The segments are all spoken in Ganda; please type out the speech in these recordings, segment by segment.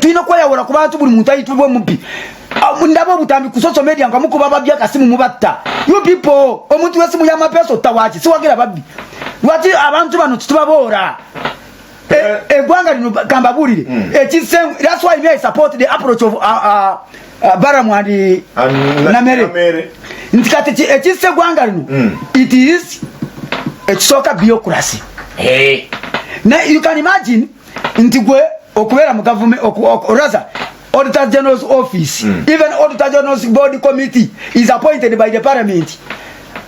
tulina okweyawula ku bantu buli muntu ayitibwa omubbi ah, ndaba obutambi ku social media nga mukuba babbi akasimu mubatta you people omuntu wesimu yamapeesa otta waki siwagera babbi lwaki abantu bano titubaboora egwanga eh, eh, eh, lino kambabuulire hmm. ekisemu that's why me i support the approach of uh, uh, uh, baramu and namere nti kati ekisse egwanga lino hmm. it is ekisooka biocracy na you can imagine nti gwe okubeera mu gavumenti oraza auditor general's office mm. even auditor general's board committee is appointed by the parliament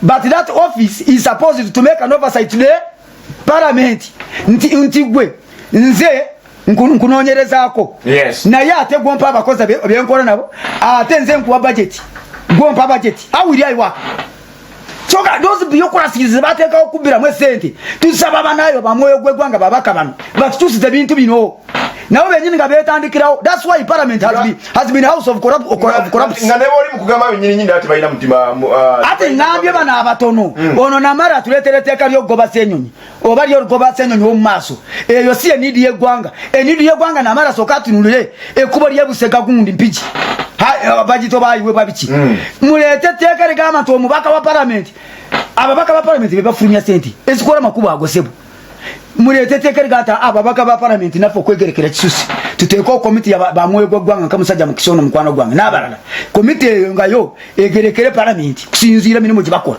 but that office is supposed to make an oversight to the parliament nti nti gwe nze nkunoonyerezaako yes. naye ate gwompa abakozi byenkola nabo ate nze nkuwa budget gwompa budget awiri aiwa kyoka dozi biyokulasiriza zebateekawo okubbiramu esente tusaba banayo bamwoyo gwegwanga babaka bano batukyusiza ebintu bino nabo benyini nga betandikirawo thats why parliament has been, has been house of corrupt, of corrupt, corrupt. nga neboli mukugamba benyini nyini ati balina mutima uh, ati ngambye bano abatono mm. ono namara atuletera etteeka lyokugoba senyonyi oba lyo lugoba senyonyi wo mumaso eyo si enidi yegwanga enidi yegwanga namara soka tunulire ekubo lye busega gundi mpiji ha eh, bajito bayi we babiki mm. mulete teka le gama to mubaka wa parliament ababaka ba parliament be bafumya senti esikora makubo agosebo mulete teka le gata ababaka ba parliament nafo kwegerekera kisusi tuteekoo komiti ya bamwoyo gwaggwanga nka musajja mukisa ono mukwano gwange n'abalala komiti eyo nga yo egerekere palamenti kusinziira mirimu gye bakola